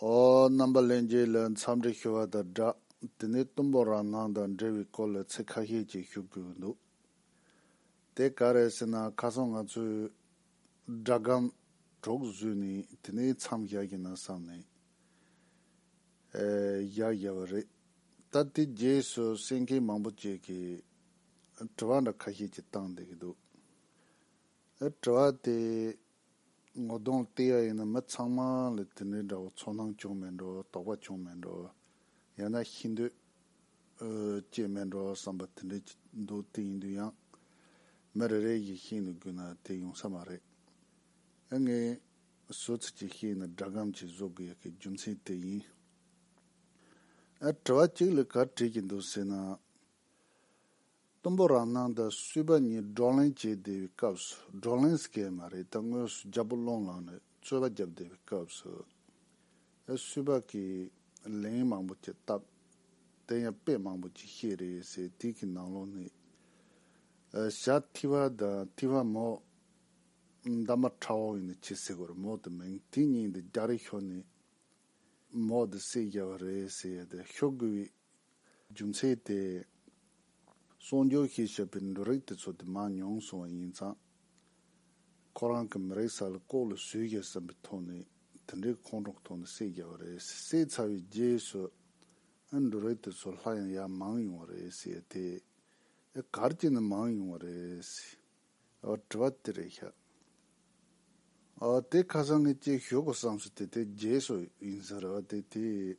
ཨོ། རྣམ་པ་གླེང་རྗེས་ལ་མཚམས་འདྲི་ཞུ་བ་དང་སྦྲགས་དེ་ནས་གཏུམ་པོ་རང་སྣང་དང་འབྲེལ་བའི་སྐོར་ལ་ཚིག་ཁ་ཤས་ཅིག་ཞུ་དགོས་འདུག་དེ་ག་རེད་ཟེར་ན་ཁ་སང་ང་ཚོས། སྒྲ་སྒམ། གྲོགས་བཟོས་ནས་དེ་ནས་མཚམས་བཞག་གི་ན་བསམ་ནས། བཞག་བཞག་བ་རེད། ད་དེ་རྗེས་སུ་གསན་མཁན་མང་པོ་ཅིག་གིས། དྲི་བ་འདྲ་ཁ་ཤས་ཅིག་བཏང་བསྡད་ཀྱི་འདུག་དྲི་བ་དེ། ངོ་གདོང་བལྟས་ཡ་ཡིན་ན་མི་ཚང་མ་ལ་དེ་འདྲའི་འདྲ་བོ་ཚོར་སྣང་བྱུང་མེད་འགྲོ་དོགས་པ་བྱུང་མེད་འགྲོ་ཡང་ན་ཤི་འདོད་སྐྱེས་མེད་འགྲོ་བསམ་པ་དེ་འདྲའི་འདུག་དེ་ཡིན་དུས་ཡང་མི་རེ་རེའི་ཡིད་ཤེས་ནས་བསྒུལ་ན་དེ་ཡོང་ས་མ་རེད་ཨེ། ངས་བཟོ་ཚིག་ཅིག་ཤེས་ཡིན་ན་སྒྲ་སྒམ་གྱིས་བཟོ་དགོས་ཡ་གི་རྒྱུ་མཚན་དེ་ཡིན། ཨ། དྲི་བ་གཅིག་ལས་གར་བྲིས་ཀྱི་འདུག་ཟེར་ན། གཏུམ་པོ་རང་སྣང་དང་བསུས་པ་གཉིས་བགྲོ་གླེང་བྱེད་བསྡད་པའི་སྐབས་སུ་བགྲོ་གླེང་ཟེར་མཁན་མ་རེད་ད་དངོས་སུ་རྒྱ་སྤོ་སློང་ལངས་ནས་རྩོད་པ་བརྒྱབ་བསྡད་པའི་སྐབས་སུ་ཡང་བསུས་པ་གིས་ལན་མང་པོ་བྱས་སྟབས་དེ་ཡང་དཔེ་མང་པོ་ཅིག་ཤེས་རེད་ཟེར་དུས་ཀྱི་ནང་ལོགས་ནས་ཞྭ་ཐི་བ་དང་ཐི་བ་མོ། འདབ་མ་ཁྲ་བོ་ཡིན་ན་ཁྱི་སེ་གོར་མོ་དེ་མིང་དེ་གཉིས་འདི་རྒྱ་རི་ཤོར་ནས་མོ་དེ་སེ་རྒྱལ་བ་རེད་ཟེར་ཡ་དེ་ཤོར་དགོས་པའི་རྒྱུ་མཚན་དེས། གསོག་འཇོག་ཤེས་བྱ་བའི་འབྲུ་རིགས་དེ་ཚོ་དེ་མ་མྱོང་སོང་བ་ཡིན་ཙང། ཁོ་རང་གི་མི་རིགས་ས་ལ་ལྐོག་ལུད་བཟོས་ཀྱང་བསམ་པའི་ཐོག་ནས་དེ་འདྲའི་ཁོང་ཁྲོ་ཐོག་ནས་བསྲེགས་རྒྱག་པ་རེད་བསྲེགས་ཚར་བའི་རྗེས་སུ། ཨེ་འབྲུ་རིགས་དེ་ཚོ་ལྷ་ཡང་ཡར་མང་ཡོང་བ་རེད། དེ། ཨེ་གར་གྱི་ནས་མང་ཡོང་བ་རེད། དྲི་བ་དེ་རེད་ཤག། དེ་ཁ་སང་གི་སྐྱེས་ཞོག་གི་བསམ་ཚུལ་དེ་དེ་རྗེས་སུ་ཡིན་ས་རེད་བ་དེ་དེས།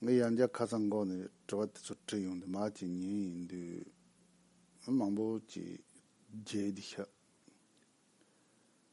ངས་ཡང་བསྐྱར་ཁ་སང་འགོ་ནས་དྲི་བ་དེ་ཚོ་དྲིས་ཡོང་དུས་མ་སྐྱེས་ཉིན་ཡིན་དུས། མི་མང་པོ་ཅིག་རྒྱལ་དུས་ཤག།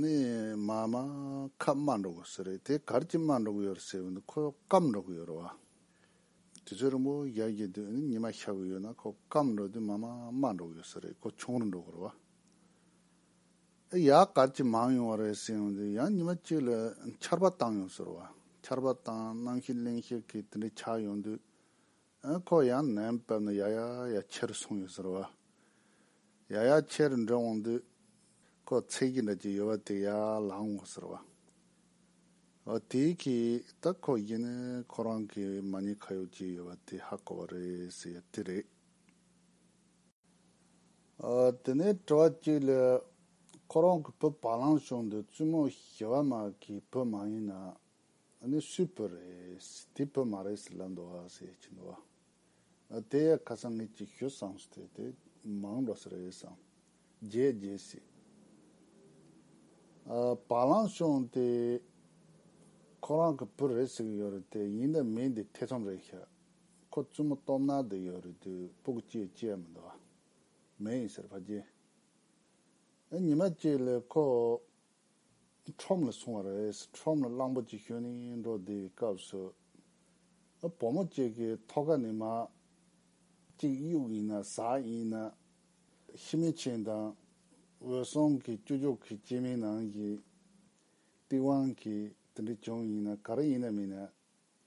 ནི། མ་མ་ཁ་སྨྲ་འགྲོ་གི་ཟེར་རེད་དེ་གར་གྱི་སྨྲ་འགྲོ་གི་ཡོད་རེད་ཟེར་བས་འདི་ཁོ་སྐམ་འགྲོ་གི་ཡོད་རེད་བ། དུས་ཚོད་རིང་པོ་བཞག་རྒྱུ་དེ་ནི་ཉི་མ་ཤར་གི་ཡོད་ན་ཁོ་སྐམ་འགྲོ་དུས་མ་མ་སྨྲ་འགྲོ་གི་ཡོད་ཟེར་རེད་ཁོ་ཆུང་རུ་འགྲོ་གི་རེད་བ། ཨེ་ཡ་གར་གྱི་མང་ཡོང་བ་རེད་ཟེར་བས་འདི་ཡང་ཉི་མ་གཅིག་ལ་ཆར་པ་བཏང་ཡོང་ཟེར་བ། ཆར་པ་བཏང་གནང་ཤིག་གླེང་ཤིག་གིས་དེ་འདྲའི་ཆགས་ཡོང་དུས་ཁོ་ཡང་ནད་ཡམས་བབས་ནས་ཡ་ཡ་ཡ་ཁྱེར་སོང་ཡོད་ཟེར་བ། ཡ་ཡ་ཁྱེར་འགྲོ་འོང་དུས། ཁོ་ཚེགས་ཀྱི་འདྲ་གྱི་ཡོད་པ་དེ་ཡ་ལང་ངོ་ཟེར་བ། ཨོ་དེ་གི་ད་ཁོ་གཞན་ནས་ཁོ་རང་གི་མ་ཉེས་ཁ་ཡོག་ཅིག་ཡོད་པ་དེ་ཧ་གོ་བ་རེད་ཟེར་ཡ་དེ་རེད། ཨོ་དེ་ནས་དྲི་བ་གཅིག་ལས། ཁོ་རང་གི་བུ་བ་ལང་ཤོར་འདུག་བཙུན་མོ་ཞི་བ་མ་གིས་བུ་མ་ཡིན་ན། ཨ་ནི་སུའི་བུ་རེད། དེའི་བུ་མ་རེད་ཟེར་ལབ་འདུག་ཨ་ཟེར་གྱིན་འདུག་ཨ། དེ་ཡང་ཁ་སང་ངས་ཅིག་ཞུས་སམ་ཟེར་དུས་དེ་མང་འགྲོ་ས་རེད་བསམ། རྗེས་རྗེས་ཟེར། བ་ལང་ཤོང་དེ། ཁོ་རང་གི་བུ་རེད་ཟེར་གྱི་ཡོད་རེད་དེ་ཡིན་ན་མི་འདི་ཐེ་ཚོམ་རེད་ཤག། ཁོ་བཙུན་མོ་སྟོབས་ནག་དེ་ཡོད་རེད་དུས་སྤུ་གུ་སྐྱེས་སྐྱེས་མི་འདུག་ཨ། མེད་ཡིན་ཟེར་ཕ་རྒྱན། ཨ་ཉི་མ་ཅིག་ལས་ཁོ། ཁྲོམ་ལ་སོང་བ་རེད། ཁྲོམ་ལ་གླང་པོ་ཆེ་ཁྱོད་ནི་འགྲོ་བདེ་བའི་སྐབས་སུ། བུ་མོ་གཅིག་གི་ཐོ་ག་ནས་མ། གཅིག་གཡུག་ཡིན་ན་ཟ་ཡིན་ན། ཤི་མེད་ཆེན་དང་འོད་སྲུང་གི་བཅུ་ཕྱོགས་ཀྱི་སྐྱེས་མའི་ནང་གི། སྟེས་དབང་གིས་དེ་འདྲ་བྱུང་ཡིན་ན་ག་རེ་ཡིན་ན་མིན་ན།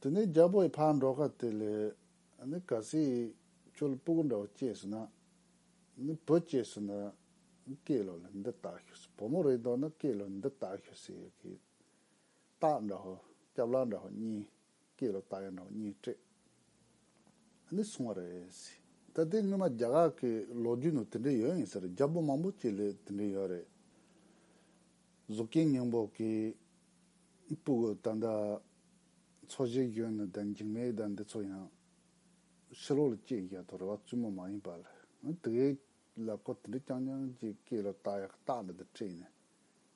དེ་ནས་རྒྱལ་པོ་ཡི་ཕ་འགྲོ་ཁ་དེ་ལས་ནི་ག་སི་ཡི་ཁྱོད་སྤུ་གུ་འདྲ་བ་སྐྱེས་སུ་ན་ནི་བུ་སྐྱེས་སུ་ན་ནི་ཀེ་ལོ་ལ་འདི་ལྟ་ཞུ་སི་བུ་མོ་རེ་འདོགས་ན་ཀེ་ལོ་འདི་ལྟ་ཞུ་སི་ཡི་གི་སྟག་འདྲ་བ་སྐྱབས་ལ་འདྲ་བ་གཉིས་ཀེ་ལོ་སྟག་ཡ་འདྲ་བ་གཉིས་སྤྲད་ནི་སོང་བ་རེ་སི། ད་དེ་སྔོན་མ་རྒྱ་གར་གི་ལོ་རྒྱུས་ནང་དེ་འདྲ་ཡོད་ཡིན་ཟེར་རྒྱལ་པོ་མང་པོ་སྐྱེས་ལས་དེ་འདྲ་ཡོད་རེད་གཟུགས་རྐྱེན་སྙིང་པོ་གིས་པུཀུ་ད་ལྟ་འཚོ་བྱེད་སྐྱོན་ནི་དང་འགྱིང་མེད་དང་འདི་ཚོ་ཡང་ཕྱི་ལོག་ལ་སྐྱེས་རྒྱ་དང་རེ་བ་བཙུན་མོ་མ་ཡིན་པ་ལ་ང་དགེ་ལ་ཁོ་དེ་འདྲ་རྐྱང་རྐྱང་ཅིག་སྐྱེས་ལ་ཏག་ཡག་ཏག་ལ་འདི་སྤྲད་ནས་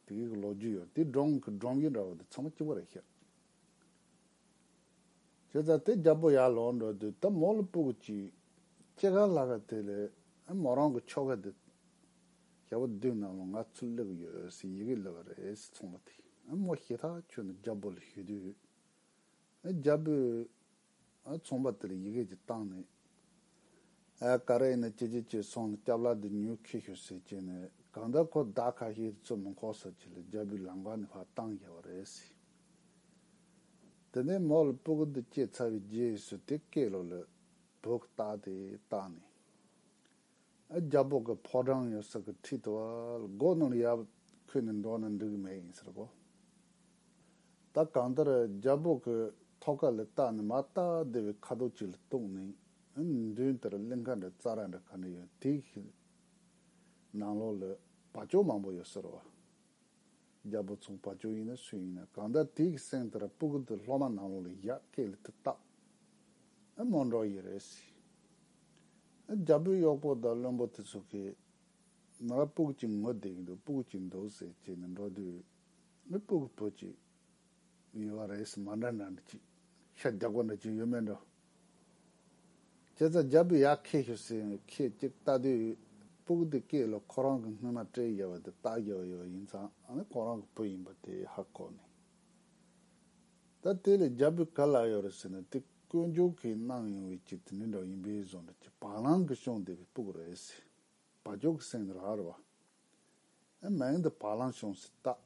དགེ་གི་ལོ་རྒྱུས་ཡོད་དེ་འབྲོང་གི་འབྲོང་རྒྱུས་འདྲ་བ་འདི་ཚང་མ་སྐྱིད་པོ་རེད་ཤག་བྱས་ཙང་དེ་རྒྱ་པོ་ཡར་ལོག་འགྲོ་དུས་ད་མོ་ལ་པུཀུ་གཅིག་སྐྱེས་ག་ལ་ག་དེ་ལས་མོ་རང་གི་ཁྱོ་ག་འདི་རྒྱལ་པོ་བདུད་རྣམས་ལ་ང་ཚུར་སླེབས་ཡོད་ཟེར་ཡི་གེ་སླེབས་པ་རེད་ཟེར་ཚོང་པ་དེས་མོ་ཤེས་ཐག་ཆོད་འདུག་རྒྱལ་པོ་ལ་ཞུས་དུས། རྒྱལ་པོས་ཚོང་པ་དེ་ལ་ཡི་གེ་དེ་བཏང་ནས། ག་རེ་ཡིན་ན་ཅི་ཅི་བྱས་སོང་ལ་སྐྱབས་ལགས་འདི་ཉོས་ཁེ་ཤོར་ཟེར་བྱས་ནས་གང་ལྟར་ཁོ་བདག་ཁ་ཤས་ཚུར་མི་འཁོར་ཟེར་བྱས་ལ་རྒྱལ་པོས་ལམ་ཁ་ནས་ཕར་བཏང་ཡོད་པ་རེད་ཟེར། དེ་ནས་མོ་ལ་སྤུ་གུ་འདི་སྐྱེས་ཚར་བའི་རྗེས་སུ་དེ་སྐེ་ལོ་ལ་བུག་བཏགས་ཏེ་བཏགས་ནས། རྒྱ་འབོག་གི་ཕོ་བྲང་ཡོད་ས་གི་ཁྲིད་དུ་སྒོ་ནང་ལ་ཡབ་ཁོས་ནི་འགྲོ་ན་འགྲིག་མེད་ཡིན་ཟེར་གོ། ད་གང་ལྟར་རྒྱ་འབོག་གི་ཐོག་ཁ་ལ་བཏགས་ནས་མ་བལྟ་བདེ་བའི་ཁ་དོག་ཅིག་ལ་གཏུགས་ནས་མདུན་ལྟར་གླིང་ཁ་འདྲ་རྩྭ་ར་འདྲ་ག་འདྲ་ཡོད་དེའི་ནང་ལོགས་ལ་བ་ཅོ་མང་པོ་ཡོད་ཟེར་རོ། རྒྱལ་པོ་ཚོང་པ་ཅོ་ཡིན་ན་སུ་ཡིན་ན་གང་ལྟར་དེའི་གསེང་དེར་སྤུ་གུ་དེ་སློབ་མ་ནང་ལོགས་ལ་བཞག་སྐད་ལ་དེ་བཏགས། ཨེ་མོ་འགྲོ་ཡི་རེད་ཟེར། ཨེ་རྒྱལ་པོའི་གཡོག་པོ་དང་བློན་པོ་དེ་ཚོ་གིས། ང་ལ་སྤུ་གུ་གཅིག་ངོ་བསྡད་ཀྱི་འདུག་སྤུ་གུ་གཅིག་འདུག་ཟེར་བྱས་ནས་འགྲོ་དུས། ཨེ་སྤུ་གུ་བུ་གཅིག་ཡོད་བ་རེད་ཟེར་མ་འདྲ་འདྲ་འདྲ་གཅིག་ཤ་རྒྱགས་པ་འདྲ་གཅིག་ཡོད་མེད་འདྲ། ཁྱེད་ཚོ་རྒྱབ་པོ་ཡག་ཁེ་ཤོར་སྲིད་ཡོད་ཁེ་གཅིག་ལྟ་དུས་སྤུག་འདི་སྐད་ལོ་ཁོ་རང་གི་སྔོན་མ་བཀྲིས་རྒྱལ་བ་དེ་སྟག་རྒྱལ་བ་ཡོད་ཡིན་ཙང་ནི་ཁོ་རང་གི་བུ་ཡིན་པ་དེ་ཧ་གོ་ནི་ད་དེ་ལས་རྒྱབ་པོའི་ག་ལ་ཡོད་རེད་ཟེར་ནི་དེ་དཀོན་མཆོག་གིས་གནང་ཡོང་བའི་ཆེད་དུ་འདི་འདྲ་ཡིན་པས་བཟོ་འདྲ་ཁྱི་བག་ལང་གི་ཤོང་བསྡད་པའི་སྤུག་རེད་ཟེར་བ་ཁྱོད་ཀྱི་སེམས་ནི་རག་རེད་བ། ཨེ་མ་ཡིན་འདི་བག་ལང་ཤོང་སྲིད་སྟག་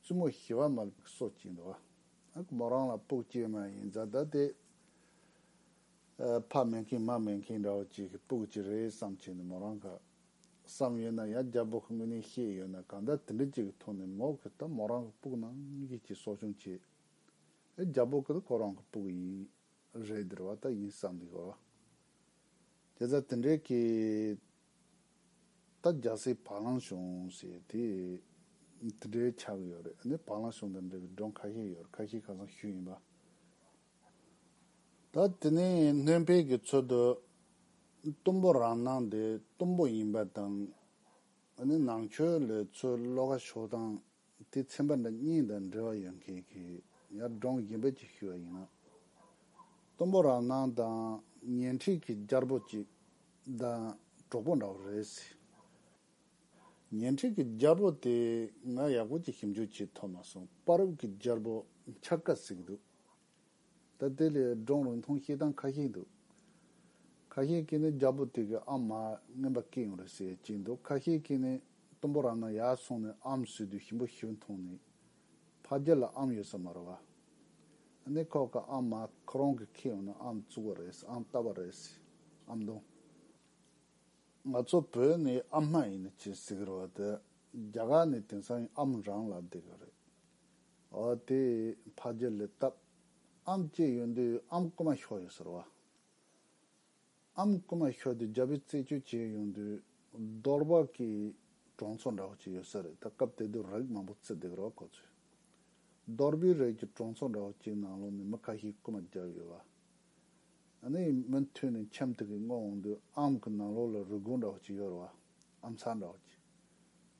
བཙུན་མོ་ཞི་བ་མ་ལུག་སོགས་ཀྱིས་འདུལ་བ། མོ་རང་ལ་སྤུག་ཅེས་མ་ཡིན་བཟའ་ཟླ་སྟེ། ཕ་མེད་མཁན་མ་མེད་མཁན་འདྲ་བོ་ཅིག་གིས་སྤུག་ཅི་རེད་བསམ་བྱས་ནས་མོ་རང་ག། བསམ་ཡོད་ན་ཡང་རྒྱ་བོད་ཀྱི་དངོས་གནས་ཤེས་ཡོད་ན་གང་འདྲ་དེ་འདྲ་ཅིག་གི་ཐོག་ནས་མོ་གིས་ད་མོ་རང་གི་སྤུག་ནང་ཡིད་ཀྱི་གསོ་སྐྱོང་བྱེད། རྒྱ་བོད་ཀྱི་ད་ཁོ་རང་གི་སྤུག་ཡིན། རེད་ཟེར་བ་ལྟ་ཡིན་བསམ་གི། དེ་ལྟར་དེ་འདྲའི་གི། ད་རྒྱ་སེ་བ་གླང་གཞུང་ཞེས་དེ་དེ་འདྲའི་ཆགས་ཡོད་རེད་ནི་བ་གླང་གཞུང་དང་འབྲེལ་བའི་སྒྲུང་ཁ་ཤས་ཡོད་ཁ་ཤས་ཁ་སང་ཞུས་ཡིན་པ། ད་དེ་ནས་སྣོན་འཕེལ་གྱི་ཚུལ་དུ་གཏུམ་པོ་རང་སྣང་དེ་གཏུམ་པོ་ཡིན་པ་དང་ནང་ཆོས་ལས་ཚུལ་བློ་ཁ་ཕྱོགས་སྟངས་དེ་ཚན་པ་འདྲ་གཉིས་དང་འབྲེལ་བ་ཡོད་མཁན་གྱི་ཡར་འབྲོང་རྒན་པོ་གཅིག་ཞུ་བ་ཡིན་ན། གཏུམ་པོ་རང་སྣང་དང་ཉན་འཕྲིན་གྱི་སྐྱར་པོ་གཅིག་དང་གྲོགས་པོ་འདྲ་བོ་རེད་སྲིད། ཉན་འཕྲིན་གྱི་སྐྱར་པོ་དེ་ང་ཡག་པོ་གཅིག་ཞིབ་འཇུག་བྱེད་ཐུབ་མ་སོང་པར་རུབ་ཀྱི་སྐྱར་པོ་འཆར་ཀ་ཟིག་འདུག་ད་དེ་ལས་འབྲོང་རིང་ཐུང་སྐྱེས་སྟངས་ཁ་ཤས་འདུག། ཁ་ཤས་ཀྱིས་ནི་རྒྱ་བོད་དེ་གའི་ཨ་མ་རྔན་པ་སྐྱེས་ཡོང་རེད་ཟེར་གྱིན་འདུག་ཁ་ཤས་ཀྱིས་ནི་གཏུམ་པོ་རང་ན་ཡར་སོང་ནས་ཨམ་བཟོས་དུས་ཞིམ་པོ་ཞིག་འཐུང་ནས། ཕ་རྒྱལ་ལ་ཨམ་ཡོད་ས་མ་རེད་བ། ཨ་ནེ་ཁོག་གི་ཨ་མ་ཁོ་རང་གི་ཁྱི་ཡོང་ན་ཨམ་བཙུགས་བ་རེད་ཨམ་བཏབ་བ་རེད་ཟེར་ཨམ་འདོན། ང་ཚོ་བོད་ནས་ཨ་མ་ཡིན་ནི་ཅི་ཟེར་གི་རེད་བ་དེ་རྒྱ་གར་ནས་དེང་སང་ཨམ་རང་ལ་བསྡད་གི་རེད། དེས་ཕ་རྒྱལ་ལས་བཏབ། ཨམ་སྐྱེས་ཡོན་དུས་ཨམ་སྐུ་མ་ཤོ་ཡོད་ཟེར་བ། ཨམ་སྐུ་མ་ཤོ་དེ་རྒྱ་བོད་རྩད་གཅོད་བྱས་ཡོང་དུས་རྡོར་བག་གིས་གྲོང་ཚོ་འདྲ་བོ་གཅིག་ཡོད་ས་རེད་ད་སྐབས་དེ་དུས་རེག་མང་པོ་བརྩི་བསྡད་རོགས་གོ་ཚུལ། རྡོར་བུའི་རེག་གི་གྲོང་ཚོ་འདྲ་བོ་གཅིག་ནང་ལོག་ནས་མི་ཁ་ཤས་སྐུ་མ་བརྒྱབ་ཡོད་བ། ཨ་ནི་མུ་མཐུད་ནས་འཁྱམ་ཐུག་གིས་སྔོ་འོང་དུས་ཨམ་གི་ནང་ལོག་ལ་རུས་སྒོང་འདྲ་བོ་གཅིག་ཡོད་རེད་བ། ཨ་མཚར་འདྲ་བ་གྱིས།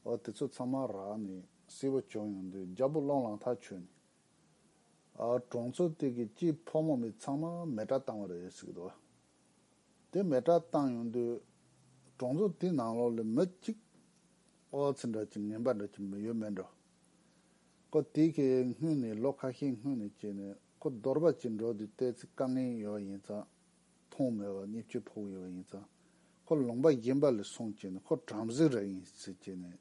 ཨོ་དེ་ཚོ་ཚང་མ་རག་ནས་བསིལ་བ་བྱུང་ཡོང་དུས་རྒྱ་སྤུ་སློང་ལང་ཐག་ཆོད་ནས། ཨ་གྲོང་ཚོ་སྟེ་གི་སྐྱིད་ཕོ་མོ་མི་ཚང་མ་མེ་དགྲ་བཏང་བ་རེད་ཟེར་གི་འདུག་དེ་མེ་དགྲ་བཏང་ཡོང་དུས། གྲོང་ཚོ་དེའི་ནང་ལོགས་ལས་མི་གཅིག་ཨོ་ཚེ་འདྲ་གྱིས་ངན་པ་འདྲ་གྱིས་མི་ཡོད་མེད་འགྲོ། ཁོ་དེ་གའི་སྔུན་ནས་ལོ་ཁ་ཤས་སྔུན་ནས་བྱས་ནས་ཁོ་རྡོར་པ་གྱིས་འགྲོ་དུས་བལྟས་ཚེ་དཀའ་ངལ་ཡོད་ཡིན་ཙང་མཐོང་མེད་པར་མཉེས་སྤྱོད་ཕོག་ཡོད་པ་ཡིན་ཙང། ཁོ་ལུང་པ་རྒན་པ་ལས་སོང་ཅེས་ནས་ཁོ་བྲམ་ཟེ་ར་ཡིན་ཟེར་ཅེས་ནས།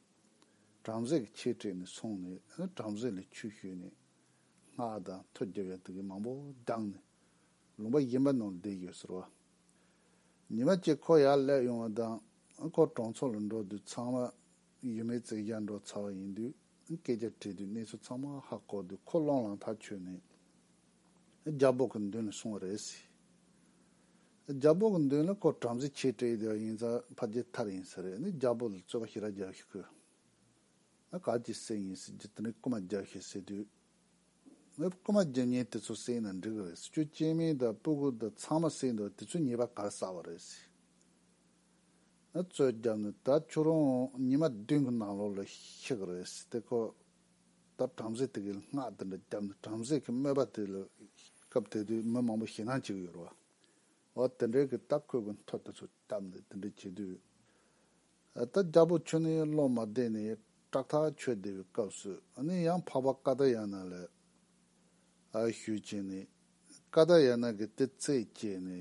བྲམ་ཟེ་གི་ཆས་སྤྲས་ནས་སོང་ནས་བྲམ་ཟེ་ལས་ཆུ་བཤོས་ནས། སྔགས་དང་ཐོ་རྒྱབ་ཡང་དག་གིས་མང་པོ་བསྒྲངས་ནས། ལུང་པ་རྒན་པ་ནང་ལ་བསྡད་ཡོད་ཟེར་བ། ཉི་མ་གཅིག་ཁོ་ཡར་སླེབས་ཡོང་བ་དང། ཁོ་གྲོང་ཚོ་ལ་འགྲོ་དུས་ཚང་མ་ཡུལ་མིའི་རྩེད་རྒྱག་འགྲོ་ཚར་བ་ཡིན་དུས། སྐད་ཆ་དྲིས་དུས་གནས་ཚུལ་ཚང་མ་ཧ་གོ་དུས་ཁོ་བློང་ལང་ཐག་ཆོད་ནས་རྒྱ་སྦོག་གི་མདུན་ལ་སོང་བ་རེད། རྒྱ་སྦོག་གི་མདུན་ལ་ཁོ་བྲམ་ཟེ་ཆེ་གྲས་ཡིན་ཡིན་ཙང་ཕ་རྗེས་མཐར་ཡིན་ས་རེད་ནས་རྒྱ་སྦོག་ལ་རྩོད་པ་ཞིག་ར་རྒྱག་ཤོག་གི། ག་ཅི་སེམས་ཡིན་སྲིད་ཀྱི་དེ་འདྲའི་རྐུ་མ་རྒྱག་ཤེས་སྲིད་དུས། རྐུ་མ་རྒྱུ་གཉེན་དེ་ཚོ་བསད་ན་འགྲིག་གི་རེད་ཁྱོད་སྐྱེས་དམན་དང་སྤུ་གུ་དང་ཚང་མ་བསད་འདུག་དེ་ཚོའི་ཉེས་པ་ག་ལ་བསགས་པ་རེད། རྩོད་རྒྱབ་ནི་ད་ཁྱོད་རང་ཉི་མ་བདུན་གི་ནང་ལོགས་ལ་ཤི་གི་རེད་སྲིད་དེ་ཁོ་ད་བྲམ་ཟེ་དེ་གི་སྔགས་དེ་འདྲ་རྒྱབ་ནི་བྲམ་ཟེ་གི་སྨོད་པ་དེ་ལ་སྐབས་དེ་དུས་མི་མང་པོ་ཞེད་སྣང་བྱེད་གི་ཡོད་རོ། འོ་དེ་འདྲའི་གི་ད་ཁོས་གི་མཐོ་དེ་ཚོ་བཏབ་ནི་དེ་འདྲ་བྱེད་དུས། ད་རྒྱ་བོ་ཁྱོད་ནི་བློ་མ་བདེ་ནི་སྐྲག་ཐག་ཆོད་བདེ་བའི་སྐབས་སུ་ནི་ཡང་འཕགས་པ་ཀ་ད་ཡ་ན་ལ་ཞུས་བྱས་ནི་ཀ་ད་ཡ་ན་གི་དེ་ཚེ་བྱས་ནི་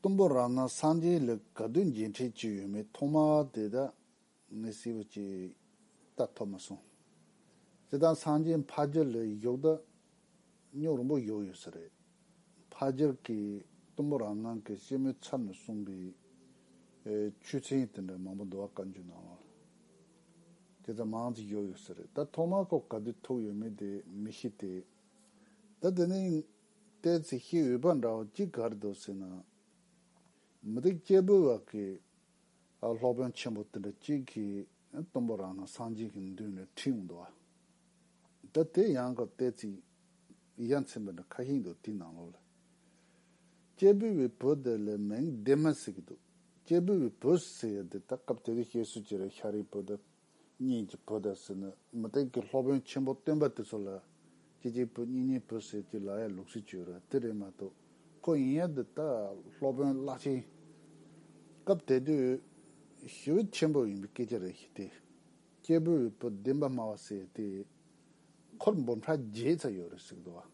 གཏུམ་པོ་རང་སྣང་སངས་རྒྱས་ལས་ག་དུས་མཇལ་འཕྲད་བྱས་ཡོད་མེད་ཐོག་མ་དེ་དག་ངས་སྲིད་པ་ཅིག་ལྟ་ཐུབ་མ་སོང། སྤྱིར་བཏང་སངས་རྒྱས་ཕ་རྒྱུད་ལས་གཞོགས་དག་སྙོག་རིང་པོ་གཞོགས་ཡོད་ས་རེད། ཕ་རྒྱུད་ཀྱིས་གཏུམ་པོ་རང་སྣང་གི་སྐྱེད་མོས་ཚབ་ནས་གསུངས་པའི་ཆོས་ཚན་དེ་འདྲ་མང་པོ་འདུག་བཀའ་འགྱུར་ནང་ལ་དེ་ཙམ་མང་ཙམ་བཞོགས་ཡོད་ས་རེད། ད་ཐོག་མ་ཁོ་ག་དུས་ཐུག་ཡོད་མེད་དེ་མི་ཤེས་ཏེ། ད་དེ་ནས་ལྟའི་ཚེ་ཤི་འོས་པ་འདྲ་བ་ཅི་གར་འདུག་ཟེར་ན། མི་རིགས་སྐྱེ་བོའི་བར་གྱི་སློབ་དཔོན་ཆེན་པོ་དེ་འདྲ་གཅིག་གིས་གཏུམ་པོ་རང་སྣང་སངས་རྒྱས་ཀྱི་མདུན་ལས་ཁྲིད་ཡོང་འདུག་ཨ། ད་དེ་ཡང་ཀ་ཏའི་ཚིག་ཡ་མཚན་པ་འདྲ་ཁ་ཤིག་འདུག་དེའི་ནང་ལོགས་ལ། སྐྱེས་བུ་བའི་བུ་དེ་ལས་མིང་བདེ་མ་ཟེར་གྱི་འདུག་སྐྱེས་བུ་བའི་བུ་ཟེར་ཡ་དེ་དག་སྐབས་དེ་དུས་སྐྱེས་བསུ་བྱེད་རེས་ཤ་རིའི་བུ་དེ་གཉིས་ཀྱི་བུ་དང་ཟེར་ན་མི་སྟེང་གི་སློབ་དཔོན་ཆེན་པོ་སྟོན་པ་དེ་ཚོ་ལ་གཅིག་གཅིག་བུ་གཉིས་གཉིས་བུ་ཟེར་གྱི་ལ་ཡ་ལུག་སྲིད་བྱུས་ར་དེ་རེད་མ་གཏོགས་ཁོ་ཡིན་ཡང་འདི་ལྟར་སློབ་དཔོན་བརླག་ཕྱིན། སྐབས་དེ་དུས་ཞི་བ་ཆེན་པོ་ཡིན་པའི་སྐད་ཆ་རེ་ཞིག་སྟེ། སྐྱེས་བུ་བའི་བུ་བདེན་པ་སྨྲ་བ་ཟེར་དེ། ཁོར་འབུམ་ཕྲག་བརྒྱའི་ཚ་ཡོད་རེད་གཟིགས་འདུག་བ།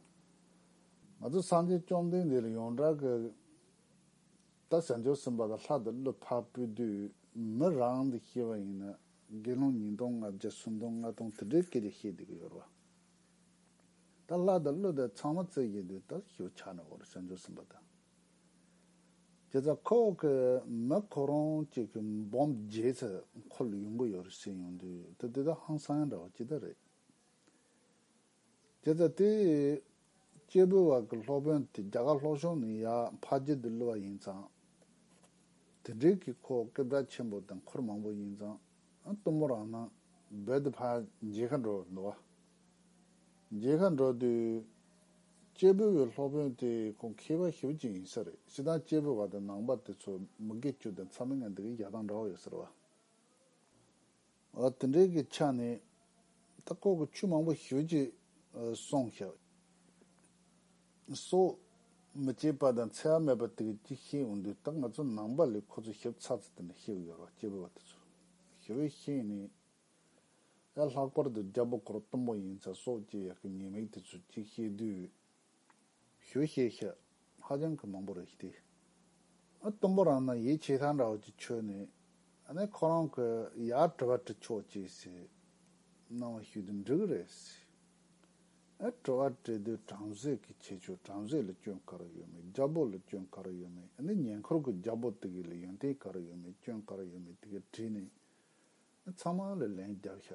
ང་ཚོ་སངས་རྒྱས་བཅོམ་ལྡན་འདས་ལ་ཡོངས་གྲགས་ཀྱི་ད་བྱང་ཆུབ་སེམས་དཔའ་ལ་ལྷ་དང་ཀླུ་ཕག་སྤོས་དུད་མི་རང་དུ་ཤེས་པ་ཡིན་ན་དགེ་སློང་ཉིས་སྟོང་ལྔ་བརྒྱ་སུམ་སྟོང་ལྔ་སྟོང་དེ་འདྲའི་སྐད་ཆ་བཤད་དུས་ཀྱི་ཡོད་རེད་པ། ད་ལྷ་དང་ཀླུ་དེ་ཚང་མ་བརྩད་བཞིན་དུས་ད་ཞོ་ཆགས་ནས་འོར་བྱང་ཆུབ་སེམས་དཔའ་དང། དེ་ཚ་ཁོག་གི་མི་ཁོ་རང་གཅིག་གི་འབོམ་བརྒྱད་ཚེ་འཁོར་ལོ་ཡོང་གི་ཡོད་རེད་བཤད་ཡོང་དུས་ད་དེ་དག་ཧང་སང་ཡང་འདྲ་བ་ཇི་ལྟར་རེད། དེ་ལྟ་སྟེ། སྐྱེས་བུ་བར་གྱི་སློབ་དཔོན་དེ་རྒྱ་གར་ལྷོ་ཕྱོགས་ནས་ཡར་འཕགས་རྗེས་འདིར་ལུས་པ་ཡིན་ཙང། དེ་འབྲེལ་གྱི་ཁོ་བོ་སྐད་གྲགས་ཆེན་པོ་དང་འཁོར་མང་པོ་ཡིན་ཙང་གཏུམ་མོ་རང་སྣང་རྦད་དེ་འཕགས་རྗེས་མཁའ་འགྲོར་འགྲོ་བ། རྗེས་མཁའ་འགྲོ་དུས། སྐྱེས་བུ་བའི་སློབ་དཔོན་དེ་ཁོང་མཁས་པ་ཞེ་བོ་ཅིག་ཡིན་ས་རེད་ཞེ་སྡང་སྐྱེས་བུ་བ་དང་ནང་པ་དེ་ཚོ་མི་དགེ་བཅུ་དང་ཚ་མི་ངན་དེ་གའི་བྱ་བཏང་འདྲ་བོ་ཡོད་ཟེར་བ། ཨོ་དེ་འདྲའི་གི་ཆ་ནི། ད་སྐོར་གི་ཆུ་མང་པོ་ཞོད་ཀྱིས་སོང་ཤག། སོ། མི་སྐྱེས་པ་དང་འཚེ་བ་མེད་པ་དེ་གི་ཅིག་ཤེས་འོང་དུས་ད་ང་ཚོ་ནང་པ་ལས་ཁོ་ཚོ་ཞབས་ཚགས་ཚུལ་དེ་འདྲ་ཤེས་གི་ཡོད་རོགས་སྐྱེས་བུ་བ་དེ་ཚོས། ཞེ་བའི་ཤེས་ནི། ཨེ་ལྷག་པར་དུ་རྒྱ་བོ་སྐོར་གཏུམ་པོ་ཡིན་ཚ་སོགས་ཀྱིས་ཡག་གི་ཉེས་དམིགས་དེ་ཚོས་ཅིག་ཤེས་དུས། ཞུ་ཤེས་ཤ་ཧ་ཅང་གི་མང་པོ་རེད་དེ། གཏུམ་པོ་རང་ན་ཡེ་ཆེ་ས་འདྲ་བ་ཅིག་ཆོད་ནས་ནས་ཁོ་རང་གི་ཡར་དྲི་བ་དྲི་ཆོག་ཅེས་ཟེར་སྣང་བ་ཞུས་དུས་འགྲིག་གི་རེད་ཟེར། དྲི་བ་དྲིས་དུས་བྲམ་ཟེ་གི་ཁྱེད་ཆོས་བྲམ་ཟེ་ལ་སྐྱོན་ག་རེ་ཡོད་མེད་རྒྱ་བོད་ལ་སྐྱོན་ག་རེ་ཡོད་མེད་ནས་ཉེ་འཁོར་གི་རྒྱ་བོད་དེ་གའི་ལ་ཡོན་ཏན་ག་རེ་ཡོད་མེད་སྐྱོན་ག་རེ་ཡོད་མེད་དེ་གའི་དྲིས་ནས་ནས་ཚང་མ་ལ་ལན་རྒྱབ་ཤ་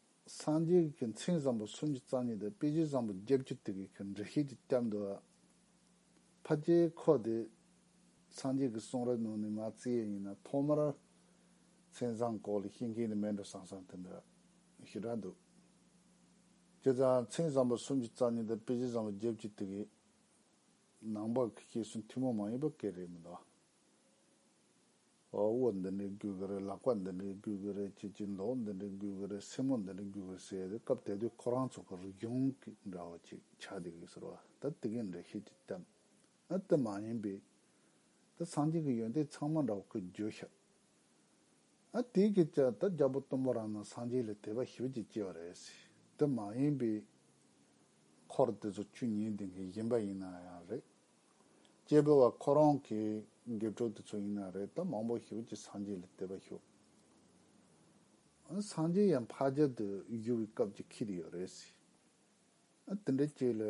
སངས་རྒྱས་ཀྱི་མཚན་བཟང་པོ་སུམ་ཅུ་རྩ་གཉིས་དང་དཔེ་བྱད་བཟང་པོ་བརྒྱད་བཅུ་དེ་གའི་འགྲེལ་བཤད་ཀྱི་སྐྱབས་འདུལ་བ། ཕ་རྒྱལ་འཁོགས་དེ། སངས་རྒྱས་ཀྱི་གསུང་རབ་ནང་ནས་ང་རྩིས་ཡས་ཡིན་ན་ཐོག་མར། མཚན་བཟང་སྐོར་ལ་ཤེས་མཁན་ནི་མེད་འགྲོ་སང་སང་དེ་འདྲ་ཞེ་དྲག་འདུག། དེ་ལྟར་མཚན་བཟང་པོ་སུམ་ཅུ་རྩ་གཉིས་དང་དཔེ་བྱད་བཟང་པོ་བརྒྱད་བཅུ་དེ་གའི་ནང་པར་གྱི་སྐྱེས་སུ་མཐུན་མོང་མ་ཡིན་པ་སྐད་རེད་མི་འདུག། དབུ་འདི་འདྲས་འགུལ་གི་རེད་ལག་པ་འདི་འདྲས་འགུལ་གི་རེད་ཅེས་ཀྱིས་མདོག་འདི་འདྲས་འགུལ་གི་རེད་སེན་མོ་འདི་འདྲས་འགུལ་གི་རེད་ཟེར་ཏེ་སྐབས་དེ་དུས་ཁོ་རང་ཚོ་གི་རིག་གཞུང་གི་འདྲ་བ་ཅིག་ཆགས་བསྡད་ཀྱི་ཟེར་བ་ད་དེ་གའི་འགྲེལ་བཤད་ཀྱི་གཏམ་ཨ་དེ་མ་ཡིན་པས། ད་སངས་རྒྱས་ཀྱི་ཡོན་ཏན་ཚང་མ་འདྲ་བོ་ཁོས་བརྗོད་ཤག་ཨ་དེའི་སྐད་ཆ་ད་རྒྱ་བོད་སྟོང་པ་རང་ནང་སངས་རྒྱས་ལས་དད་པ་ཞི་བ་ཅིག་སྐྱེ་བ་རེད་དེ་མ་ཡིན་པས། འཁོར་དེ་ཚོ་བཅུ་གཉིས་ལྡན་མཁན་གཞན་པ་ཡིན་ན་ཡང་རེད། སྐྱེས་བུ་བ་ཁོ་རང་གི་དགེ་ཕྲུག་དེ་ཚོ་ཡིན་ན་རེད་དམ་མང་པོ་ཞིག་གིས་སངས་རྒྱས་ལ་དད་པ་ཞུ། སངས་རྒྱས་ཡང་ཕ་རྒྱལ་དུ་བཞུགས་པའི་སྐབས་ཀྱི་ཁྱི་དེ་ཡོད་རེད་ཟེར། དེ་འདྲའི་སྐྱེས་ལ་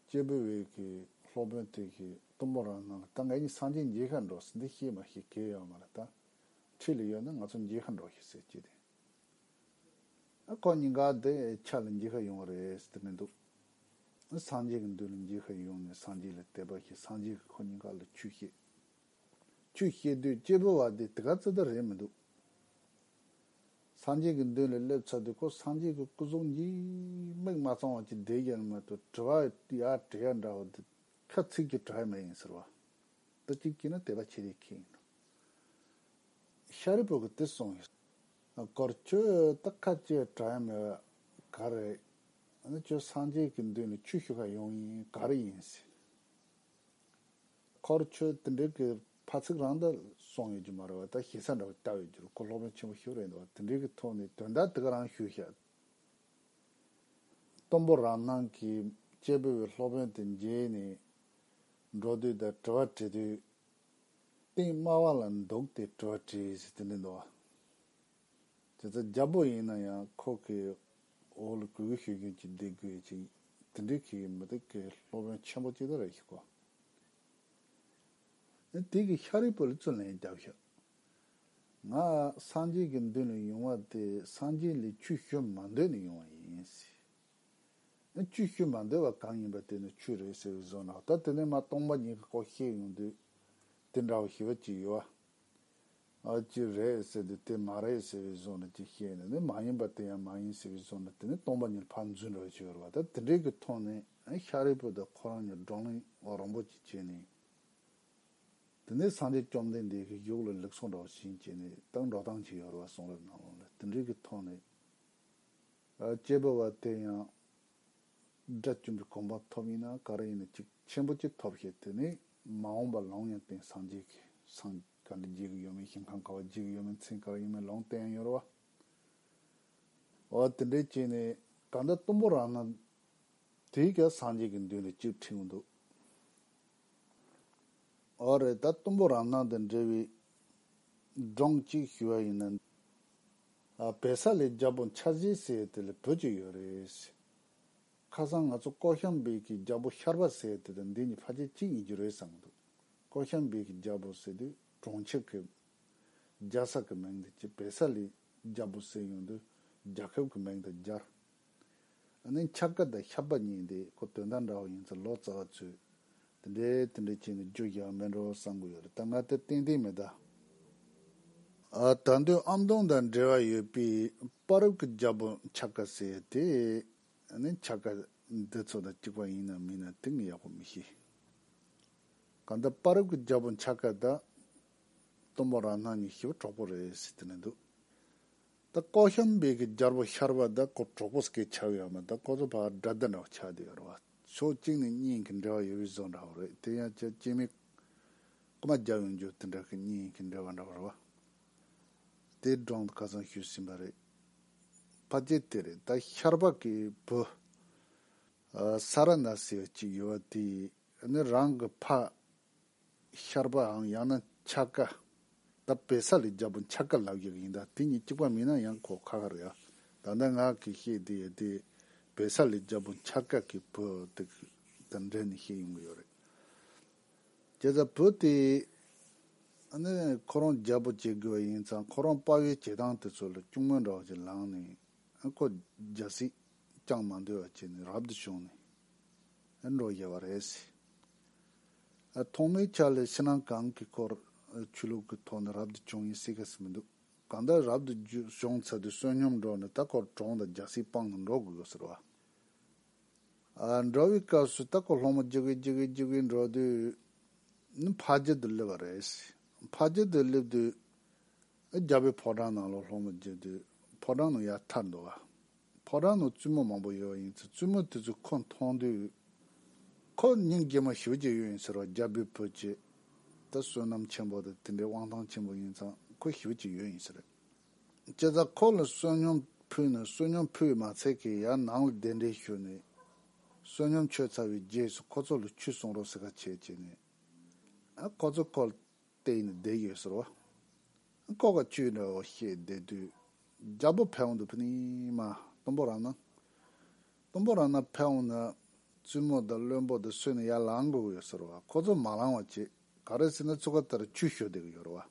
སྐྱེས་བུ་བས་ཀྱི་སློབ་དཔོན་དེ་གིས་གཏུམ་པོ་རང་གནང་ལ་ད་ངེད་གཉིས་སངས་རྒྱས་མཇལ་ཁར་འགྲོ་ཟེར་འདི་ཤེས་མ་ཤེས་གལ་ཡོད་མ་རེད་ད། འཁྲིས་ལ་ཡོད་ན་ང་ཚོ་མཇལ་ཁར་འགྲོ་ཞིག་ཟེར་སྐྱེས་དེས། ཁོ་གཉིས་ཀ་འདི་ཆ་ལ་འགྱིག་ཁ་ཡོང་བ་རེད་ཟེར་གི་མི་འདུག་སངས་རྒྱས་ཀྱི་མདུན་ལ་འགྱིག་ཁ་ཡོང་ནས་སངས་རྒྱས་ལ་དད་པ་བྱེད་སངས་རྒྱས་ཀྱིས་ཁོ་གཉིས་ཀ་ལ་ཆོས་བཤད། ཆོས་བཤད་དུས་སྐྱེས་བུ་བ་འདི་དེ་ག་ཙི་ད་རེད་མི་འདུག་སངས་རྒྱས་ཀྱི་མདུན་ལ་སླེབས་ཚར་དུས་ཁོ་སངས་རྒྱས་ཀྱི་སྐུ་གཟུགས་འགྱིག་མིག་མ་གཙང་བ་ཅིག་བསྒྲིལ་བཞག་ནས་མ་ཏོ་དྲི་བ་ཡ་དྲི་ཡ་འདྲ་བོ་འདི་ཁ་ཚིག་གི་དྲི་བ་མེད་ཡིན་ཟེར་བ་འདི་གཅིག་གྱིས་ན་དད་པ་བྱེད་རེས་ཁེ་ཡིན་ནོ། ཤཱ་རིའི་བུ་གི་དེ་སོང་ཡོད། གར། ཁྱོད་ད་ཁ་ལྕེ་དྲ་ཡ་མེད་བས་གར་རེད། ཨ་ཁྱོད་སངས་རྒྱས་ཀྱི་མདུན་ནས་ཆུ་ཤུ་ཁ་ཡོང་ཡིན་གར་ཡིན་ཟེར། གར། ཁྱོད་དེ་འདྲའི་གི་ཕ་ཚིག་རང་ད་སོང་ཡོད་རྒྱུ་མ་རེད་བ་ད་ཞེ་ས་འདྲ་བོ་བལྟ་འོས་རྒྱུར་གོ་ལྷོག་མེད་ཆེན་པོ་ཞིག་རེད་འདུག་བ་དེ་འདྲའི་གི་ཐོག་ནས་དོན་དག་དེ་ག་རང་ཞུ་ཤག། གཏུམ་པོ་རང་སྣང་གི་དཔྱད་བུ་བའི་སློབ་དཔོན་དེ་མཇལ་ནས་འགྲོ་དུས་ད་དྲི་བ་དྲི་དུས། སྟེང་དམའ་བ་ལ་འདུག་སྟེ་བྲོ་བྲི་ཞེས་དེ་འདྲའི་འདུག་བ། དེ་ཚོ་རྒྱ་བོད་ཡིན་ན་ཡང་ཁོག་གི་འོག་ལ་གུས་གུས་ཞུ་རྒྱུན་གྱིས་བསྡད་དགོས་ཅིག་དེ་འདྲའི་གི་མི་སྡུག་གི་སློབ་དཔོན་ཆེན་པོ་གཅིག་དེ་རེད་ཤག་གོ། ཨེ་དེ་གི་ཤག་རིག་པོ་ལ་རྩོད་ལན་རྒྱབ་ཤག། ང་སངས་རྒྱས་ཀྱི་མདུན་ལ་ཡོང་བ་དེ་སངས་རྒྱས་ལས་ཆུ་ཞོ་མ་འདོད་ནས་ཡོང་བ་ཡིན། ཨེ། ཆུ་ཤུལ་མ་འདོད་པ་གང་ཡིན་པ་དེ་ནི་ཆུ་རེད་ཟེར་བའི་བཟོ་ནག་ད་དེ་ནས་མ་སྟོང་པ་ཉིད་ཀྱི་སྐོར་བཤད་ཡོང་དུས། དེ་འདྲ་བ་ཞི་བ་གཅིག་ཡོད་ཨ། ཨ་ཅི་རེད་ཟེར་དུས་དེ་མ་རེད་ཟེར་བའི་བཟོ་ནག་ཅིག་བཤད་ནས་ནི་མ་ཡིན་པ་དེ་ཡང་མ་ཡིན་ཟེར་བའི་བཟོ་ནག་དེ་ནི་སྟོང་པ་ཉིད་ཕར་འཛུལ་འདྲ་བ་ཞིག་རེད་བ་ད་དེ་འདྲའི་གི་ཐོག་ནས་ཤཱ་རིའི་པུ་ད་ཁོ་རང་ཉིད་བགྲོ་གླེང་རོང་པོ་ཅིག་བྱས་ནས། དེ་ནས་སངས་རྒྱས་བཅོམ་ལྡན་འདས་ཀྱི་གཞུག་ལ་ལེགས་སོ་འདྲ་བ་བྱིན་བྱས་ནས་ཏག་འགྲོ་སྟངས་ཅིག་ཡོད་རེད་བ་གསུང་རབ་ནང་ལུང་ལ་དེ་འདྲའི་གི་ཐོག་ནས། སྐྱེས་བུ་བ་དེ་ཡང་དགྲ་བཅོམ་པའི་གོམས་པ་ཐོབ་ཡིན་ན་ག་རེ་ཡིན་ན་གཅིག་ཆེན་པོ་གཅིག་ཐོབ་ཞེས་དེ་ནི་མ་འོངས་པར་ལོངས་ཡང་བསྟན་སངས་རྒྱས་ཀྱི་སངས་ག་འདི་བརྗེད་གི་ཡོད་མེད་ཞིང་ཁམས་ག་བ་བརྗེད་གི་ཡོད་མེད་མཚན་ག་རེ་ཡིན་མིན་ལོངས་བསྟན་ཡང་ཡོད་རེད་བ། འོ་དེ་འདྲའི་ཅན་ནི་གང་འདྲ་གཏུམ་པོ་རང་སྣང་དེས་ཀྱང་སངས་རྒྱས་ཀྱི་མདུན་ལ་སྤྱིར་ཁྲིད་མི་འདུག། འོ་རེད་ད་གཏུམ་པོ་རང་སྣང་དང་འབྲེལ་བའི་སྒྲུང་གཅིག་ཞུ་བ་ཡིན་ན། བལ་ས་ལའི་རྒྱ་བོ་འཆར་གཞི་ཟེར་དེ་ལ་བོད་ཅིག་ཡོད་རེད། ཁ་སང་ང་ཚོ་ཀོ་ཤམ་བེ་ཀི་རྒྱ་བོ་ཤར་བ་ཟེར་དེ་དང་འདི་གཉིས་ཕ་ཆེ་གཅིག་ཡིན་རྒྱུ་རེད་བསམ་འདུག་ཀོ་ཤམ་བེ་ཀི་རྒྱ་བོ་ཟེར་དུས་གྲོང་ཁྱེར་གི་རྒྱ་ས་གི་མིང་དེ་ཀྱི་བལ་ས་ལའི་རྒྱ་བོ་ཟེར་ཡོང་དུས་རྒྱ་ཁབ་ཀྱི་མིང་དང་སྦྱར་ནི་འཁྱག་པ་དང་ཤ་པ་གཉིས་འདི་ཁོ་དོན་དག་འདྲ་བོ་ཡིན་ཚུལ་ལོ་ཙཱ་བ་ཚོས་དེ་འདྲའི་དེ་འདྲའི་བྱས་ནས་རྒྱུ་བཞག་མིན་འགྲོ་བསམ་གི་ཡོད་རེད་ད་ང་དེ་ཏན་ཏན་མི་གདའ། ད་དུས་ཨམ་དོང་དང་འབྲེལ་བ་ཡོད་པའི་པ་རབ་ཀྱི་རྒྱལ་པོ་འཁྱག་ཀ་ཟེར་ཡོད་དེ། ནི་འཁྱག་ཀ་འདི་ཚོ་དང་གཅིག་པ་ཡིན་ནམ་མིན་ནམ་དེ་ངས་ཡག་པོ་མི་ཤེས། གང་ལྟར་པ་རབ་ཀྱི་རྒྱལ་པོ་འཁྱག་ཀ་དང། གཏུམ་པོ་རང་སྣང་གཉིས་ཤི་བོ་གྲོགས་པོ་རེད་ཟེར་གྱི་ནི་འདུག་ད་ཀོ་ཤམ་བྷེ་གི་རྒྱལ་པོ་ཤར་བ་དང་ཀོ་ཀྲོ་ཀོ་སྐེ་ཆགས་ཡོད་མོད་ད་ཀོ་ཚོ་བར་དགྲ་ཟླ་འདྲ་བོ་ཆགས་བསྡད་ཡོད་རེད་བ། ཕྱོགས་གཅིག་ནས་གཉིས་ཡིན་གྱི་འབྲེལ་བ་ཡོད་པའི་བཟོ་འདྲ་བོ་རེད་དེ་ཡང་ཁྱེད་སྐྱེས་མའི་ཀོ་མ་རྒྱབ་ཡོང་རྒྱུ་དེ་འདྲ་གི་གཉིས་ཡིན་གྱི་འབྲེལ་བ་འདྲ་བོ་རེད་བ། དེའི་སྒྲུང་དེ་ག་ཚང་ཤོད་སྲིད་པ་རེད། ཕ་རྒྱལ་དེ་རེད་ད་ཤར་བ་གི་བུ། ས་ར་ན་ཟེར་བ་གཅིག་ཡོད་བ་དེས་ནི་རང་གི་ཕ། ཤར་པའམ་ཡང་ན་འཆར་ཀ། ད་བེ་ས་ལས་རྒྱལ་པོ་འཆར་ཀ་ལབ་ཡག་ཡིན་ད་དེ་གཉིས་གཅིག་པ་མིན་ན་ཡང་གོ་ཁ་ཁར་ཡག་ད་ད་ང་གིས་བཤད་བསྡད་ཡོད་དེ་བེ་ས་ལས་རྒྱལ་པོ་འཆར་ཀ་གི་བུ་དེ་གི་དང་འབྲེལ་ནས་བཤད་ཡོང་གི་ཡོད་རེད། བྱས་ཙང་བུ་དེ་ནི་ཁོ་རང་རྒྱལ་པོ་བྱེད་དགོས་པ་ཡིན་ཙང་ཁོ་རང་དཔའ་བོའི་བྱེད་སྟངས་དེ་ཚོ་ལ་ཅུང་མོས་འདྲ་བ་ཞིག་ལངས་ནས་ཁོ་རྒྱལ་སྲིད་བསྐྱངས་མ་འདོད་པ་བྱས་ནས་རབ་ཏུ་བྱུང་ནས་འགྲོ་བཞེད་པ་རེད། ཐོག་མའི་ཆ་ལས་ཕྱི་ནང་གང་གི་སྐོར་ཆོས་ལུགས་ཀྱི་ཐོག་ནས་རབ་ཏུ་བྱུང་ཡིན་སྲིད་ག་ཟེ་མི་འདུག་གང་ལྟར་རབ་ཏུ་བྱུང་ཚ་དུས་བསོད་སྙོམས་འགྲོ་ནས་ད་སྐོར་གྲོང་དང་རྒྱ་སེའི་དཔང་དུ་འགྲོ་དགོས་ཟེར་བ། འགྲོ་བའི་སྐབས་སུ་ད་སྐོར་སློང་མོ་བགྱི་དགོས་བགྱི་དགོས་བགྱི་དགོས་འགྲོ་དུས་ནི་ཕ་རྒྱལ་དུ་སླེབས་པ་རེད། ཕ་རྒྱལ་དུ་སླེབས་དུས་རྒྱ་བོད་ཕོ་བྲང་ནང་ལོག་སློང་མོ་བགྱིད་དུས་ཕོ་བྲང་ནང་ཡར་ཐར་འདུག་བ། ཕོ་བྲང་ནང་བཙུན་མོ་མང་པོ་ཡོད་ཡིན་ཚུལ་བཙུན་མོ་དེ་ཚོས་ཁོ་མཐོང་དུས། ཁོ་སྙིང་རྗེ་མོ་ཞི་བ་གཅིག་ཡོད་ཡིན་ཟེར་བ་རྒྱ་བོད་བོད་གཅིག། ད་བསོད་ནམས་ཆེན་པོ་དང་དེ་འདྲའི་དབང་ཐང་ཆེན་པོ་ཡིན་ཙང་ཁོ་ཞི་བ་གཅིག་ཡོད་ཡིན་ཟེར། སྤྱིར་ད་ཁོ་ལ་བསོད་སྙོམས་ཕུལ་ནས་བསོད་སྙོམས་ཕུལ་བའི་མ་ཚད་ཀྱིས་ཡར་ནང་ལ་གདན་འདྲེན་ཞུས་ནས། བསོད་སྙོམས་མཆོད་ཚར་བའི་རྗེས་སུ་ཁོ་ཚོ་ལ་ཆུ་བསྲུང་རོགས་ཟེར་ཁ་ཆད་བྱས་ནས། ཁོ་ཚོས་ཁོ་ལ། བལྟས་ནས་བསྡད་ཡོད་ཟེར་བ། ལྐོག་ག་ཅུས་འདྲ་བོ་ཤེས་བསྡད་དུས་རྒྱ་བོད་ཕལ་བོང་དུ་ཕུ་ནིང་མ་དུམ་བུ་རང་སྣང། དུམ་བུ་རང་སྣང་ཕལ་བོང་ན་བཙུན་མོ་དང་བློན་པོ་དེ་སུས་ནས་ཡར་ལངས་དགོས་ཀྱི་ཡོད་ཟེར་བ་ཁོ་ཚོ་མ་ལངས་བ་བྱེད་ག་རེ་ཟེར་ན་ཚུགས་ཀ་དེར་ཆུ་བཞོ་བསྡད་ཀྱི་ཡོད་རེད་བ།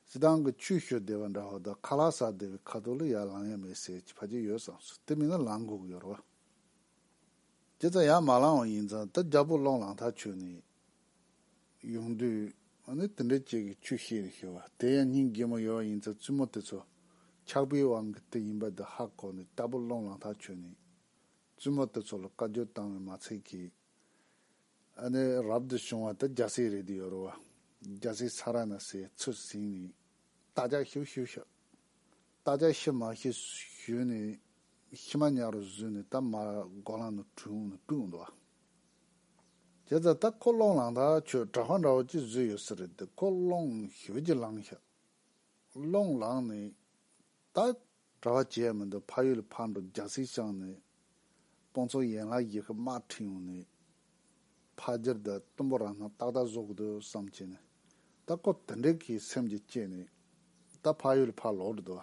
སི་ཏང་གི་ཆུ་བཞོ་བསྡད་པ་འདྲ་བོ་དང་ཁ་ལག་ཟགས་བསྡད་པའི་ཁ་ཐུག་ལ་ཡར་ལངས་ཡ་མེད་ཟེར་གྱི་ཕ་གྱིས་ཡོད་བསམ་སོང་དེ་མིན་ན་ལངས་དགོས་ཀྱི་ཡོད་རེད་བ། དེ་ཙམ་ཡར་མ་ལངས་བ་ཡིན་ཙང་ད་རྒྱ་བོད་ཀློང་ལངས་ཐག་ཆོད་ནི་ཡོང་དུས། འདི་འདྲའི་སྐྱེས་ཀྱི་ཆུ་ཤེལ་རེད་ཤེས་པ། དེ་ཡང་སྙིང་རྗེ་མོ་ཡོད་པ་ཡིན་ཚེ་བཙུན་མོ་དེ་ཚོ་ཆགས་པའི་དབང་གིས་དེ་ཡིན་པ་འདི་ཧ་གོ་ནས་རྟ་ཕོ་སློང་ལང་ཐག་ཆོད་ནས། བཙུན་མོ་དེ་ཚོ་ལ་བཀའ་བརྒྱུད་བཏང་བའི་མ་ཚད་ཀྱིས། ཨ་ནེ་རབ་ཏུ་བྱུང་བ་དེ་རྒྱ་སེ་རེད་དུ་ཡོད་རུ་བ། རྒྱ་སེ་ས་ར་ན་སའི་ཚུར་བསྲིངས་ནས་རྟ་ལྕག་ཤུ་ཤུ་བཤགས། རྟ་ལྕག་ཤི་མ་ཤི་ཞོན་ནི་ཤི་མ་ཉག་རུ་བཟོས་ནས་རྟ་མར་སྒོ་ལངས་ནས་དྲུང་ནས་སྤུད་འོང་དོ། དེ་ཚ་རྟ་ཁོ་སློང་ལངས་ད་ཁྱོད་གྲྭ་བ་འདྲ་བོ་ཅིག་བཟོས་ཡོད་ས་རེད་དེ་ཁོ་སློང་ཞོལ་གྱིས་ལངས་ཤག་སློང་ལངས་ནས་རྟ། གྲྭ་བ་བྱས་མི་འདུག་ཕ་ཡུལ་ལ་ཕར་འགྲོ་རྒྱ་སེ་ཤང་ནས་དཔོན་ཚོགས་ཡན་ལག་བཞི་ཁ་དམག་ཁྲིད་ཡོང་ནས་ཕ་རྒྱལ་དུ་གཏུམ་པོ་རང་སྣང་ཏག་ཏག་བཟོ་དགོས་འདུག་བསམ་གྱིན་ནས་ད་སྐོར་དེ་འདྲའི་གི་སེམས་ཀྱི་སྐྱེས་ནས་ད་ཕ་ཡུལ་ཕར་ལོག་འགྲོ་འདུག་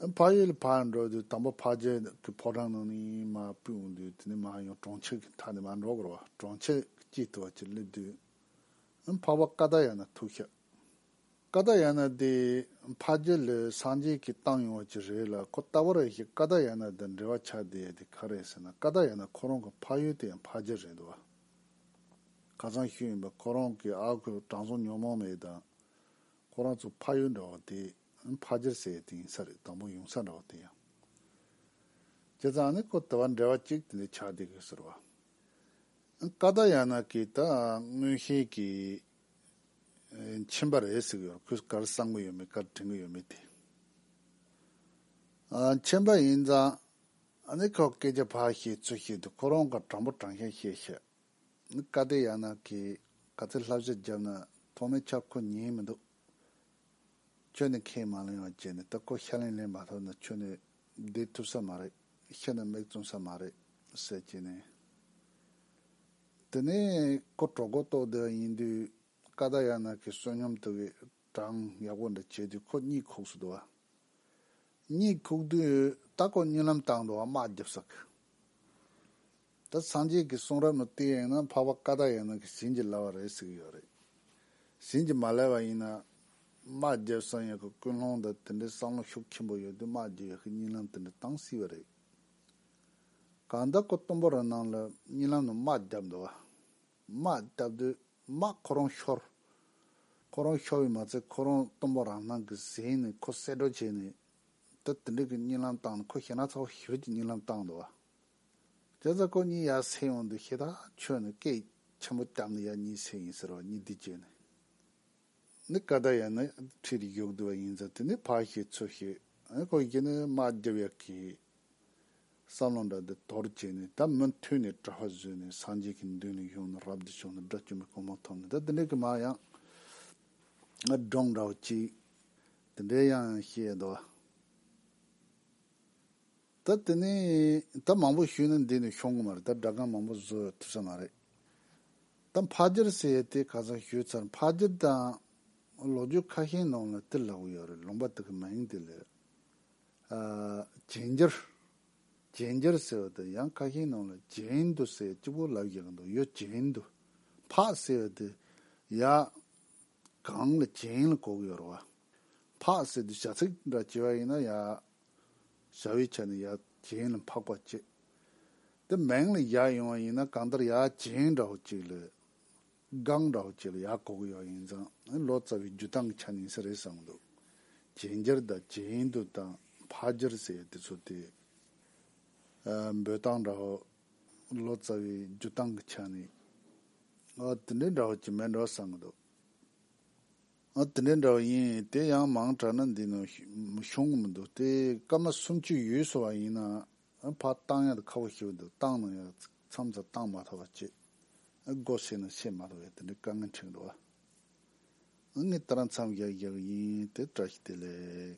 ཨ། ཕ་ཡུལ་ཕར་འགྲོ་དུས་དང་པོ་ཕ་རྒྱལ་གི་ཕོ་བྲང་ནང་ནས་མ་བུད་འདུག་དེ་ནས་མ་ཡང་གྲོང་ཁྱེར་གི་མཐའ་ནས་མ་འགྲོ་གོར་བ་གྲོང་ཁྱེར་གྱི་དཀྱིལ་དུ་བ་ཅིག་སླེབས་དུས་ཨ་ཕ་བ་ཀ་ད་ཡ་ན་ཐུག་ཤག། ཀ་རྡ་ཡ་ན་དེ་ཕ་རྒྱལ་ལོའི་སངས་རྒྱས་ཀྱིས་བཏང་ཡོང་བ་ཅིག་རེད་ལ་ཁོ་ལྟ་བུ་རེ་ཞིག་ཀ་རྡ་ཡ་ན་དང་འབྲེལ་བ་ཆགས་བསྡད་ཡོད་དེ་ག་རེད་ཟེར་ན་ཀ་རྡ་ཡ་ན་ཁོ་རང་གི་ཕ་ཡུལ་དེ་ཡང་ཕ་རྒྱལ་རེད་འདུག་ག་ཚང་ཤོས་ཡིན་པ་ཁོ་རང་གིས་ཨ་ཁུ་དྲང་སྲོང་ཉོན་མོངས་མེད་དང་ཁོ་རང་ཚོའི་ཕ་ཡུལ་འདྲ་བ་དེ་ཕ་རྒྱལ་ཟེར་ཡོད་དེ་ཡིན་ས་རེད་དང་པོ་ཡོང་ས་འདྲ་བ་དེ་ཡང་བྱས་ཙང་ནི་ཁོ་ལྟ་བ་འབྲེལ་བ་ཅིག་དེ་འདྲ་ཆགས་བསྡད་དགོས་ཟེར་བ་ཨང་ཀ་རྡ་ཡ་ན་གིས་ད་སྔོན་ཤེས་ཀྱི་མཆན་པར་རེ་ཟིག་ཡོད་ཁོས་གར་གསང་གི་ཡོད་མེད་གར་དྲན་གི་ཡོད་མེད་དེ། མཆན་པ་ཡིན་ཙང་ནི་ཁོས་སྐད་ཆ་ཕར་བཤད་ཚུར་བཤད་དེ་ཁོ་རང་གར་དྲང་པོ་དྲང་ཞན་བཤད་ཤེས། བཀའ་སྡེ་ཡག་ནག་གིས་ག་ཚོད་ལྷ་གཞས་བརྒྱབ་ན་ཐོག་མའི་ཆར་ཁོ་ཉན་མི་འདུག། ཁྱོད་ནི་ཁས་མ་ལེན་བ་བྱས་ནས་ད་ཁོ་ཤ་ལེན་ལེན་མ་ཐུབ་ན་ཁྱོད་ནི་བསྡད་ཐུབ་ས་མ་རེད་ཤེས་ན་མིག་བཙུམ་ས་མ་རེད་ཟེར་གྱིས་ནས། དེ་ནས་ཁོ་གྲོགས་གོ་རྟོགས་ལྡན་ཡིན་དུས་ཀ་རྡ་ཡ་ནག་གི་བསོད་སྙོམས་དུག་གི་གྲངས་ཡག་པོ་འདྲ་བྱས་དུས་ཁོ་གཉིད་ཁུགས་སུ་འདུག་གཉིད་ཁུགས་དུས་ད་ཁོ་གཉིད་ལམ་དང་འགྲོ་བ་དམག་རྒྱབ་ས་གི། ད་སངས་རྒྱས་ཀྱི་གསུང་རབ་ནང་དེ་ཡན་ན་འཕགས་པ་ཀ་དག་ཡན་ན་གྱི་བྱིན་གྱིས་བརླབས་པ་རེད་ཟེར་གྱི་ཡོད་རེད། བྱིན་གྱིས་མ་བརླབས་པ་ཡིན་ན། དམག་རྒྱལ་བསམ་ཡས་ཀྱི་ཀུན་སློང་དང་དེ་འདྲའི་བསམ་བློ་ཤུགས་ཆེན་པོ་ཡོད་དུས་དམག་རྒྱལ་ཡས་ཀྱི་རྙིང་ལམ་དེ་འདྲ་བཏང་སྲིད་པ་རེད། གང་ལྟར་ཁོ་གཏུམ་པོ་རང་སྣང་ལ་རྙིང་ལམ་ནང་དམག་བརྒྱབ་འདུག། དམག་བརྒྱབ་དུས་དམག་ཁོ་རང་ཤོར། ཁོ་རང་ཤོར་བས་མ་ཚད་ཁོ་རང་གཏུམ་པོ་རང་སྣང་གིས་གཟིགས་ནས་ཁོ་གསེད་བཀྲོལ་བྱས་ནས། ད་དེ་འདྲའི་གྱི་རྙིང་ལམ་བཏང་ནས་ཁོ་ཞེ་ན་ཚ་བོ་ཞི་བདེ་ཀྱི་རྙིང་ལམ་བཏང་འདུག། རྒྱ་བཟའ་ཁོ་གཉིས་ཡར་སེ་ཡོང་འདུག་ཤེས་དང་ཁྱོད་ནི་སྐད་ཆེན་པོ་བཏབ་ནས་ཡར་གཉིས་སེ་ཡིན་ཟེར་བ་གཉིས་འདི་བརྗོད་ནས་ནི་བཀའ་ཟླ་ཡང་ནི་ཁྲིད་རིགས་ཡོག་འདུག་བ་ཡིན་ཙང་དེ་ནི་ཕ་ཞིག་ཚུར་ཞིག་ཨ་ཁོ་ཡིས་ནི་མ་རྒྱབ་ཡག་གི། བསམ་བློ་འདྲ་འདི་དོར་བྱས་ནས་ད་མུ་མཐུད་ནས་གྲྭ་བ་བཟོས་ནས་སངས་རྒྱས་ཀྱི་མདུན་ལ་ཡོང་ནས་རབ་ཏུ་བྱུང་ནས་སྒྲ་བཅོམ་པའི་གོང་མ་ཐོབ་ནས་ད་དེ་འདྲ་གི་མ་ཡང་སྒྲོངས་འདྲ་བ་ཅིག་དེ་འདྲའི་ཡང་ཤེས་འདུག་བ། ད་དེ་ནས་ད་མང་པོ་ཞུས་ན་འདི་ནས་ཤོང་གི་མ་རེད་ད་སྦྲག་སྒང་མང་པོ་བཟོ་ཡོད་ཐུབ་ས་མ་རེད། ད་ཕག་སྦྱར་ཟེར་ཡས་དེ་ག་ཚང་ཞུས་ཚར་ཕག་སྦྱར་དང་ལོ་རྒྱུས་ཁ་ཤས་ནང་ལ་དེ་ལྷག་ཡོད་རེད་ལུང་པ་དེ་གི་མིང་དེ་ལས། རྗེན་སྦྱར། རྗེན་སྦྱར་ཟེར་བ་དང་ཡང་ཁ་ཤས་ནང་ལ་རྗེན་དུ་ཟེར་གཅིག་པོ་ལབ་རྒྱག་གི་འདུག་ཡོད་རྗེན་དུ་ཕག་ཟེར་བ་དེ་ཡ། གང་ལ་བྱིན་ལ་གོག་ཡོད་རུང་བ། འཕགས་ཟེར་དུས་བྱ་ཚིག་འདྲ་སྐྱེ་བ་ཡིན་ན་ཡ། བྱ་བའི་ཆ་ནས་ཡ་བྱིན་ལ་འཕགས་པ་སྐྱེ། དེ་མིང་ལ་ཡ་ཡོང་བ་ཡིན་ན་གང་ལྟར་ཡ་བྱིན་འདྲ་བོ་གཅིག་ལས། སྒང་འདྲ་བོ་གཅིག་ལ་ཡ་གོག་ཡོད་ཡིན་ཙང་ལོ་ཙཱ་བའི་རྒྱུད་སྟངས་ཀྱི་ཆ་ནས་ཡིན་ས་རེད་བསམ་འདུག། བྱིན་འགྱུར་དང་བྱིན་དུ་དང་འཕགས་འགྱུར་ཟེར་དེ་ཚོ་དེ། འབོད་སྟངས་འདྲ་བོ་ལོ་ཙཱ་བའི་རྒྱུད་སྟངས་ཀྱི་ཆ་ནས་ཨ་དེ་འདྲའི་འདྲ་བ་གྱི་མེད་འདྲ་བསམ་གྱི་འདུག་ཨ་དེ་འདྲའི་འདྲ་བ་ཡིན་དེ་ཡང་མང་དྲགས་ན་འདི་ནང་ཤོང་གི་མི་འདུག་དེ་སྐར་མ་སུམ་ཅུ་ཡོལ་སོང་བ་ཡིན་ན་ཕ་བཏང་ཡག་ཁག་པོ་ཞིག་འདུག་བཏང་ན་ཡང་མཚམས་སུ་བཏང་མ་ཐག་པ་བྱེད་དགོས་བྱས་ན་བྱེད་མ་ཐག་པའི་དེ་འདྲའི་དཀའ་ངལ་འཕྲད་འགྲོ་བ་ངས་ད་རང་མཚམས་རྒྱག་རྒྱག་གི་ཡིན་དེ་བཀྲ་ཤིས་བདེ་ལེགས།